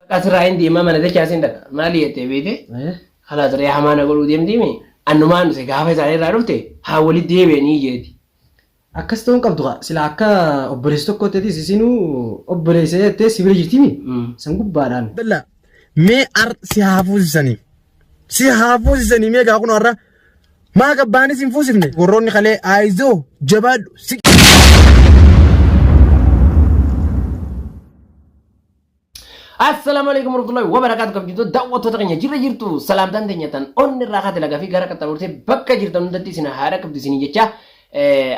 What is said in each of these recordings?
Baqaa sirraa hin deemaa mana dachaa sin dhaqa. Maali jettee beete? Kalaas ree hamaa na godhuu deemtii mi? Annumaan dhuse gaafa isaanii irraa dhufte haa walitti deebi'anii jeeti. Akkas ta'uu hin qabdu kaa sila akka obboleessa tokkootti atis isinuu obboleessa jettee si bira jirti mi? San gubbaadhaan. Dalla mee ar si haa fuusisanii si haa fuusisanii mee gaa kun har'a maa gabbaanis hin fuusifne warroonni kalee aayizoo jabaadhu si. Assalamu alaikum warahmatullahi wabarakatuh kabjito daawwattoota keenya jirra jirtu salaamtaan teenya tan onni irraa kaate lagaa fi gara qaxxaamurtee bakka jirtan hundatti isin haadha qabdu isin jecha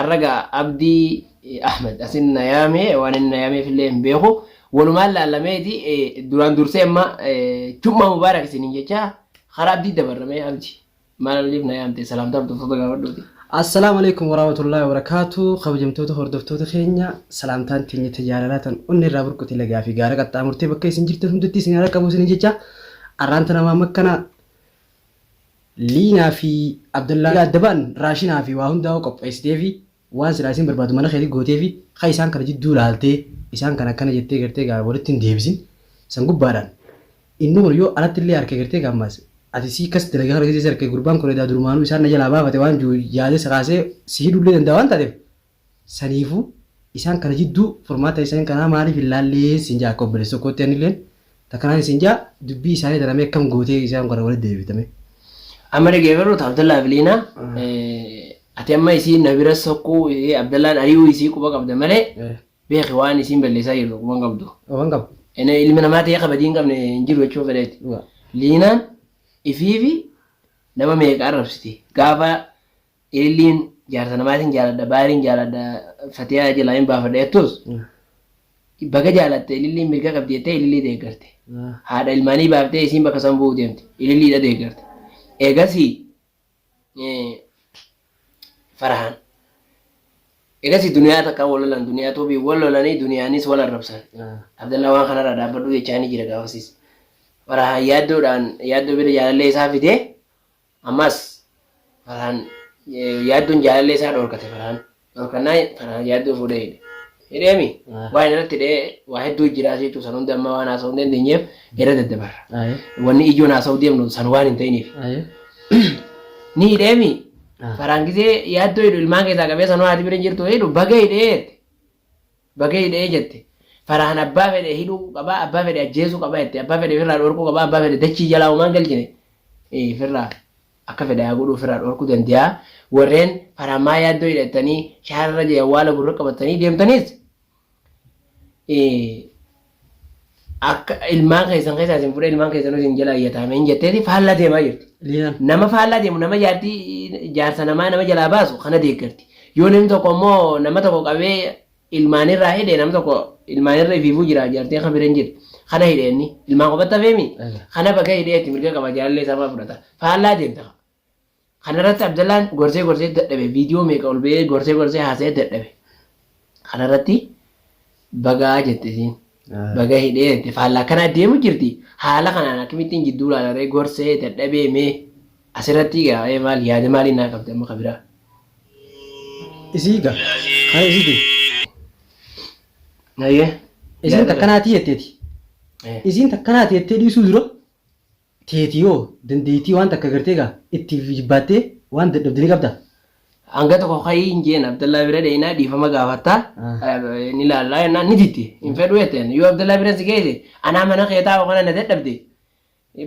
arraga abdii ahmed asin nayaame waan inni nayaameef illee hin beeku walumaan laalameeti duraan dursee amma jummaa mubaarak isin jecha karaa abdii dabarramee abdi Maal oliif na yaamte salaamtaa hordoftoota gaafadhuuti. Assalaamu alaikum waraamatullaahi wabarakaatu kabajamtoota hordoftoota keenya salaamtaan teenya tajaalalaa tan onni irraa burquti lagaa fi gaara qaxxaamurtee bakka isin jirtan hundatti isin haala qabu isin jecha arraan tana maam akkana liinaa fi abdallaa adda ba'an raashinaa fi waa hundaa'uu qopheessitee fi Waan silaa isiin barbaaddu mana keetii gooteefi ka isaan kana jidduu laaltee isaan kana akkana jettee gartee egaa walitti hin deebisin. San gubbaadhaan inni kun yoo alatti illee arke gartee egaa ammaas ati isii akkas dalage kana keessatti arke gurbaan kun edaa durumaanuu isaan na jalaa baafate waan jiru yaadee si kaasee si hidhuu illee danda'a waan taateef saniifuu isaan kana jidduu furmaata isaan kanaa maaliif hin laallee siin ja'a akka obboleessa tokkootti ani illeen Ta kanaan isin ja dubbii isaanii tana mee akkam gootee isaan kana walitti deebifta mee. Amma dhageeffadhu ta Abdallaa fi Liinaa Eh, ati amma isiin na bira soquu eh, Abdallaan ari'uu isii quba qabda malee eh, beeki waan isiin balleessaa jirtu quba hin qabdu. oh, waan qabu. Ene ilmi namaa ta'ee kabajii hin qabne hin jiru jechuun fedheeti. Dhugaa. Liinaan ifiifi nama meeqa arrabsiti. Gaafa Eelliin jaarsa namaatiin jaaladha baariin jaaladha fatiyaa jalaa hin baafadha jettus baga jaalatte ililliin mirga qabdi jettee ilillii deeggarte haadha ilmaanii baaftee isiin bakka san bu'uu deemte ililliidha deeggarte eegasii farahaan eegasii duniyaa takka wal lolan duniyaa tuubii wal lolanii duniyaanis wal arrabsan abdallaa waan kanarraa dhaabbadhuu jechaa ni jira gaafasiis farahaan yaaddoodhaan yaaddoo bira jaalallee isaa fidee Ammas Farhaan yaadduun jaalallee isaa dhorkate Farhaan dhorkannaan Farhaan yaadduu fuudhee hidhe. Hidheemi waan irratti hidhee waa hedduu jiraas jechuun san hunda amma waan haasa'uu hin dandeenyeef irra daddabarra. Wanni ijoon haasa'uu deemnu san waan hin ta'iniif. Ni hidheemi Farhaan gisee yaaddoo hidhu ilmaan keessaa qabee sanuu haati bira hin jirtu hidhu baga hidhee jette. Baga hidhee jette. Farahan abbaa fedhe hidhuu qaba, abbaa fedhe ajjeesuu qaba jette. Abbaa fedhe firraa dhorkuu qaba, abbaa fedhe dachii jalaa homaan galchine. Ee firraa akka fedhe haa godhuu firraa dhorkuu dandeeyaa. Warreen Farahan maa yaaddoo hidhattanii shaarra jee awwaala gurra qabattanii deemtaniis ee akka ilmaan keessan keessaa isin fudhee ilmaan keessanuu isin jala ayyataame hin jetteeti faallaa deemaa jirti. Liilan. Nama faallaa deemu nama jaartii jaarsa namaa nama jalaa baasu kana deeggarti. Yoo namni tokko immoo nama tokko qabee ilmaanirraa hidhe nama tokko ilmaanirra ifiifuu jira jaartii akka bira hin jirre kana hidhe inni ilmaan qofatti hafeemi. Kana bakka hidheetti mirga qaba jaalallee isaa fudhata faallaa deemta. Kana irratti Abdallaan gorsee gorsee dadhabe viidiyoo meeqa ol ba'ee gorsee gorsee haasa'ee dadhabe. Kana irratti bagaa jette isiin. Baga hidhee jette faallaa kanaa deemu jirti haala kanaan akkamittiin jidduu laalaree gorsee dadhabee mee asirratti gaa'ee maal yaada maalii naa qabda amma kabiraa. Isii ga kan isiti. Nayyee. Isiin takkanaatii jetteeti. Isiin takkanaatii jettee dhiisuu dura teeti hoo dandeettii waan takka gartee gaa itti jibbaattee waan dadhabde ni qabdaa? Hanga tokko ka'ii hin jeen Abdallaa bira dhaynaa dhiifama gaafatta ni laallaa jennaan ni didde hin fedhu jetteen yoo Abdallaa bira si geesse anaa mana kee taa'u kana na dadhabde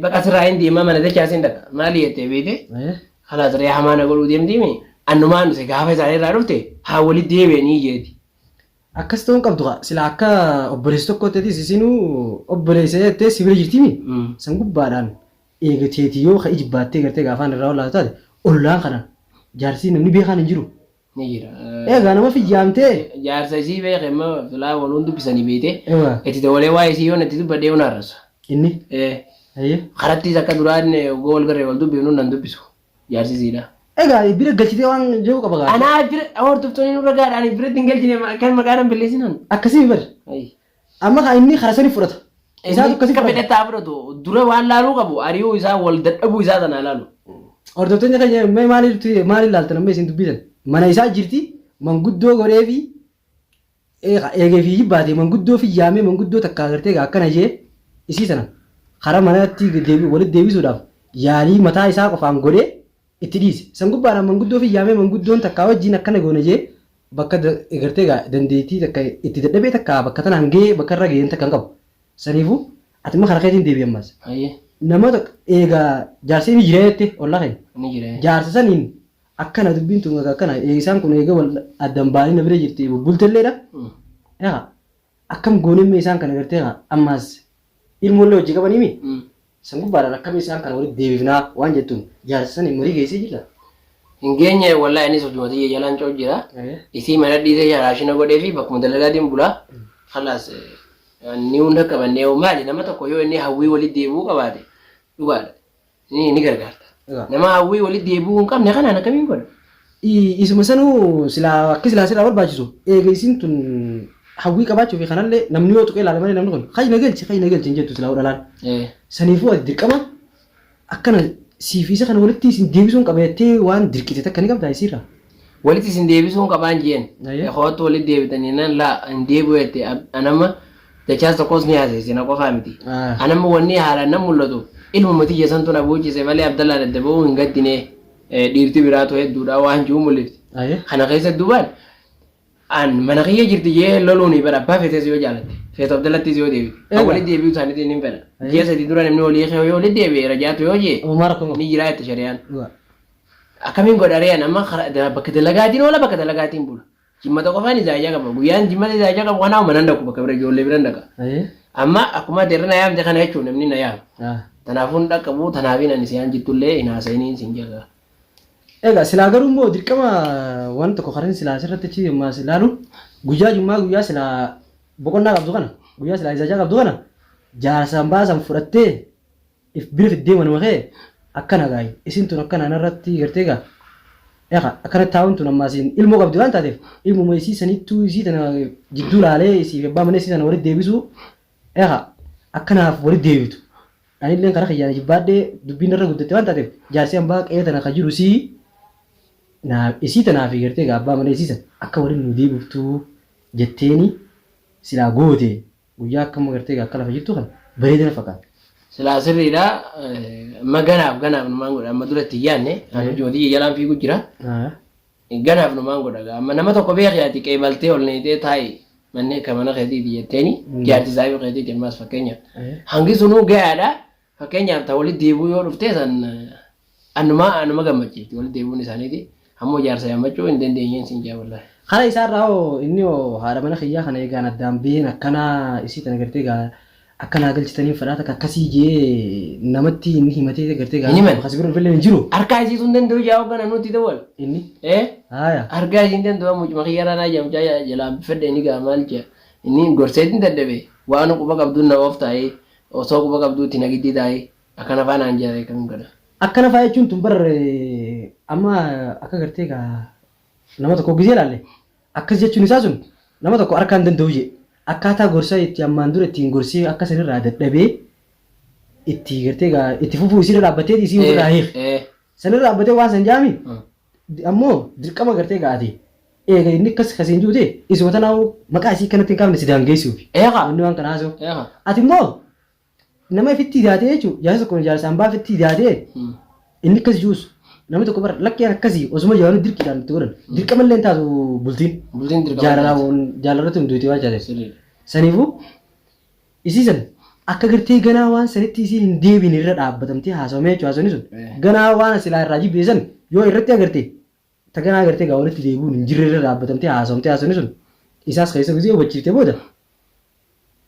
baqa sirraa hin deemaa mana dachaa sin dhaqa maali jettee beeyte kalaas ree hamaa na godhuu deemtiimi annumaan dhuse gaafa isaanii irraa dhufte haa walitti deebi'anii jeeti. Akkas ta'uu hin qabdu kaa silaa akka obboleessa tokkootti atis isinuu obboleessa jettee si bira jirti mi san gubbaadhaan eegateeti yoo ka ijibbaattee gartee gaafaan irraa olaatu taate ollaan kana jaarsii namni beekaan hin jiru. Ni jira. Eegaa nama fiyyaamtee. Jaarsa isii beeke amma silaa waluun dubbisanii beete Ewa. itti dawalee waa'ee isii yoo natti dubbadhee yoo na arrabsa. Inni. Ee. Ayyee. Karattiis akka duraan waggaa wal garree wal dubbifnu nan dubbisu. Jaarsi siidha. Egaa bira galchitee waan jiru qaba gaafii. Anaa bira hordoftoonni nurra gaadha ani biratti hin galchine ma- kan maqaa nan balleessinan. Akkasii bar. Ayi. Amma kaa inni karaa sanii fudhata. Isaatu Inni akkasii akka fudhata. fedhataa fudhatu dura waan laaluu qabu ari'uu isaa wal dadhabuu isaa sana laalu. Hordoftoonni keenya mee maaliif maaliif laaltan amma isin dubbisan? Mana isaa jirti manguddoo godhee fi Eegee fi baatee manguddoo fi yaamee manguddoo takka agartee egaa akkana jee isii sana karaa manatti walitti deebisuudhaaf yaalii mataa isaa qofaan godhee itti dhiise. San gubbaadhaan manguddoo fi yaamee manguddoon takkaa wajjiin akkana goona jee bakka egartee egaa dandeettii takka itti dadhabee takka bakka tanaan gahee bakka irra gaheen takka hin qabu. Saniifuu ati immoo karaa keetiin deebi'i ammas. Nama eegaa jaarsi ni jira jettee ollaa keenya. Jaarsa saniin Akkana dubbiin tun egaa akkana eh, isaan kun eega wal addan ba'anii na bira jirti bubbultelleedha. Egaa akkam goonemmee isaan kana gartee egaa ammaas ilmoollee hojii qabanii mi? San gubbaadhaan akkamiin isaan kana walitti deebifnaa waan jettuun jaarsa saniin marii geessee jirta. Hin geenye wallahi anis hojuma tiyya jalaan coo jira. Isii mana dhiisee sharaashina godhee fi bakkuma dalalaatiin bulaa. Kalaas ni hunda qabannee maali nama tokko yoo inni hawwii walitti deebi'uu qabaate dhugaadha. ni ni gargaarta. Egaa. Nama hawwii walitti deebi'uu hin qabne kanaan akkamiin godha? I- Isuma sanuu silaa akki silaa sirraa barbaachisu eega isiin tun hawwii qabaachuu fi kanallee namni yoo tuqee ilaala malee namni kun kayi na galchi kayi na galchi hin jettu silaa hodhalaan. Eh, Saniifuu ati dirqama akkana siif isa kana walitti isin deebisuun qaba jettee waan dirqite takka ni qabdaa isiirraa. Walitti isin deebisuun qabaan jeen. Ayyee. Koottu walitti deebitan jennaan laa hin deebi'u jette. An- Anamma dachaas tokkos ni haasesse na qofaa miti. Ah. Anamma wanni haalaan nan mul'atu ilmuma tiyya santuun abuuchise malee Abdallaan adda ba'uu hin gaddine eh, dhiirti biraatu hedduudha waan jiru mul'ifti. Ayyee. Kana keessa duubaan an mana kiyya jirti jee loluun hin fedha abbaa feetes yoo jaalatte feetu Abdallattis yoo deebite. Kan Egaa. walitti deebi'uu isaaniitiin hin fedha. Ayyee. Ji'a sadii dura namni walii kee yoo walitti deebi'e rajaatu yoo jee Umar kun. ni jiraatti shari'aan. Dhugaa. Akkamiin godha ree an amma kara- da- bakka dalagaatiin oola bakka dalagaatiin bula. Jimmata qofaan izaajaa qaba. Guyyaan jimmata izaajaa qabu kanaa manan dhaqu bakka bira ijoollee biran dhaqa. Ayee. Amma akkuma ati irra na yaamte kana jechuun namni na yaama. Ah. Kanaafuu hin dhaqqabu tanaafiin ani siyaan jittullee hin haasa'iniin sin jedha. Egaa silaa garuu immoo dirqama waan tokko karin silaa asirratti achi ammaa si ilaalu guyyaa jummaa guyyaa silaa boqonnaa qabdu kana guyyaa silaa izaajaa qabdu kana jaarsaan baasan fudhattee if bira fiddee manuma kee akkana gaayi isin tun akkana anarratti gartee gaa Eqa akkana taa'uun tun ammaa siin ilmoo qabdi waan taateef ilmuma isii sanittuu isii tana jidduu laalee isii fi abbaa mana isii tana walitti deebisuu Eqa akkanaaf walitti deebitu anilleen karaa kiyyaan jibbaadhee dubbiin narra guddatte waan taateef jaarsi ambaa qe'ee tana ka jiru isii naa isii tanaa fi gartee gaa abbaa mana isii san akka waliin nuu deebiftuu jetteeni silaa goote Guyyaa akka amma gartee akka lafa jirtu kana bareeda na fakkaata. Silaa sirriidha ma ganaaf ganaaf numaan godha amma dura itti hin yaadne an hojii hojii jalaan fiigu jira ganaaf numaan godha gaa amma nama tokko beeki ati qeebaltee ol neeyxee taa'i manni akka mana keetiiti jetteeni jaarti isaa yoo keetiiti ammaas fakkeenya hangi sunuu gayaadha Fakkeenyaaf ta walitti deebi'uu yoo dhuftee san annumaa anuma gammachiifti walitti deebi'uun isaaniiti. Ammoo jaarsa yaammachuu hin dandeenyeen siin jaa wallahi. Kana isaa irraa hoo inni hoo haadha mana kiyyaa kana eegaan addaan biheen akkanaa isii tana gartee gaa akka naa galchitaniin fedhaa takka akkasii jee namatti inni himatee gartee gaa Hin himan. kasi bira dhufillee hin jiru Harkaa isii sun danda'u jaa hoggana nutti dawwal. inni Eh? haaya Harkaa isiin danda'u amma mucuma kiyya irraa naa jaamchaa jalaa fedhe inni gaa maal jaa. Inni gorseetiin dadhabe waan quba qabduun na ooftaa'ee. Osoo quba qabduu itti nagiddii taa'ii akkana faa naan jaa beekan kana. Akkana faa jechuun tun bar amma akka gartee kaa nama tokko hoggisee ilaalle akkas jechuun isaa sun nama tokko harkaa hin danda'u jee akkaataa gorsa itti ammaan dura ittiin gorsee akka san irraa dadhabee itti gartee kaa itti fufuu isii irra dhaabbatteeti isii Ee, ofirraa hiik ee. san irra dhaabbatee waan san jaami Mm. ammoo dirqama agartee egaa ati eega inni akkas kasiin juute isuma tanaa'uu maqaa isii kanatti hin kaafne si daangeessuufi Eeqa. wanni waan kana haasoo Eeqa. ati immoo nama ifitti idaatee jechuun jaarsa tokko jaarsa hambaa ifitti idaatee Hmm. inni akkas juus namni tokko bara lakkeen akkasii osuma jaanuu dirqiidhaan itti godhan dirqama illee hin taatu bultiin Bultiin dirqama jaalalaa hin taatu. waan jaalarratti hunduuti waan taateef Sirriidha. saniifuu Isii san akka gartee ganaa waan sanitti isiin hin deebine irra dhaabbatamtee haasawamee jechuun haasawni sun Eh. ganaa waan silaa irraa jibbite san yoo irratti agarte ta ganaa agartee gaa walitti deebi'uun hin jirre irra dhaabbatamtee haasawamtee haasawni sun isaas keessa gizee hubachiiftee booda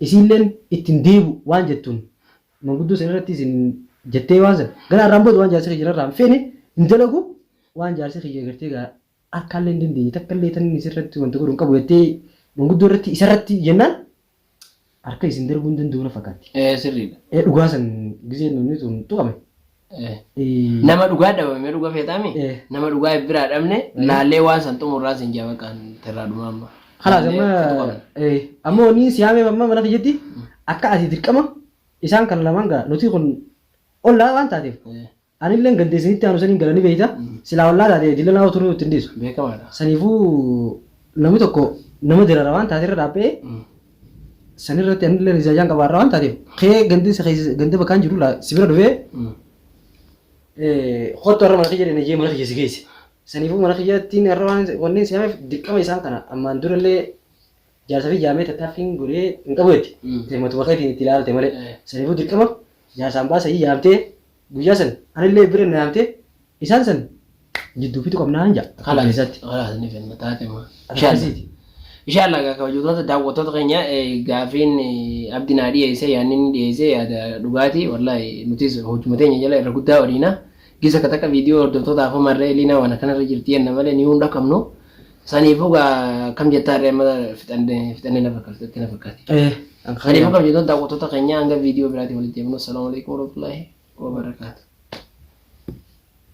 isiilleen itti hin deebi'u waan jettuun manguddoo san irratti isin jettee waan san ganaa irraan booda waan jaarsi kiyya narraa hin feene hin dalagu waan jaarsi kiyya gartee gaa harkaallee hin dandeenye takkallee tan inni isirratti wanta godhu hin qabu jettee manguddoo irratti isarratti jennaan harka isin darbuu hin danda'u na fakkaatti. Eh, sirriidha. Eh, Dhugaa san gisee namni sun tuqame. Eh. Eh, Nama dhugaa dhabame dhuga feetaami? Eh. Nama dhugaa biraa dhabne laallee waan san xumurraa sin jaa maqaan terraa dhumaa amma. Kalaas amma Laallee situ qabna. eh, amma wanni si haameef amma mana kiyyatti akka ati dirqama isaan kan lamaan gaa nuti kun ollaa waan taateef Eh, Anilleen gadde isinitti aanu saniin gala ni beeyta. Silaa ollaa taate dillanaa utuu nutti hin dhiisu. Beekamaadha. Saniifuu namni tokko nama dirara waan taate irra dhaabba'ee sanirratti anilleen ijaajaan qabaarra waan taateef kee gandin si keessa ganda bakkaan jiru laa si bira dhufee kottu har'a mana kiyya dhenne jee mana kiyya si geesse. Saniifuu mana kiyyattiin har'a waan wanneen si hameef dirqama isaan kana ammaan durallee Jaarsa fi jaamee tattaaffiin godhee hin qabu jetti. Mm. Isa matuma keetiin itti ilaalte malee. Eh. Saniifuu dirqama jaarsaan baasanii yaamtee guyyaa san anillee bira na yaamtee isaan san jidduu fixu qabnaan jaa. Kalaas Isaatti. kalaas ni fenna taate maa. Akkasiiti. Inshaallah egaa kabajamtoota daawwattoota keenya eh, gaafiin eh, abdi naa dhiyeesse yaanni inni dhiyeesse yaada dhugaati wallahi nutis hojuma teenya jala irra guddaa waliina Gisa ka takka video hordoftoota afoo marree Eliinaa waan akkana irra jirti jenna malee niyuu hin dhaqqabnu. Saniifuu gaa akkam jettaa irree amma fixanne fixanne na fakkaata itti na fakkaate. Eh, an kan Saniifuu kan jettoota daawwattoota keenyaa hanga video biraatti walitti deemnu. Salaamu alaikum warahmatullahi wabarakatuh.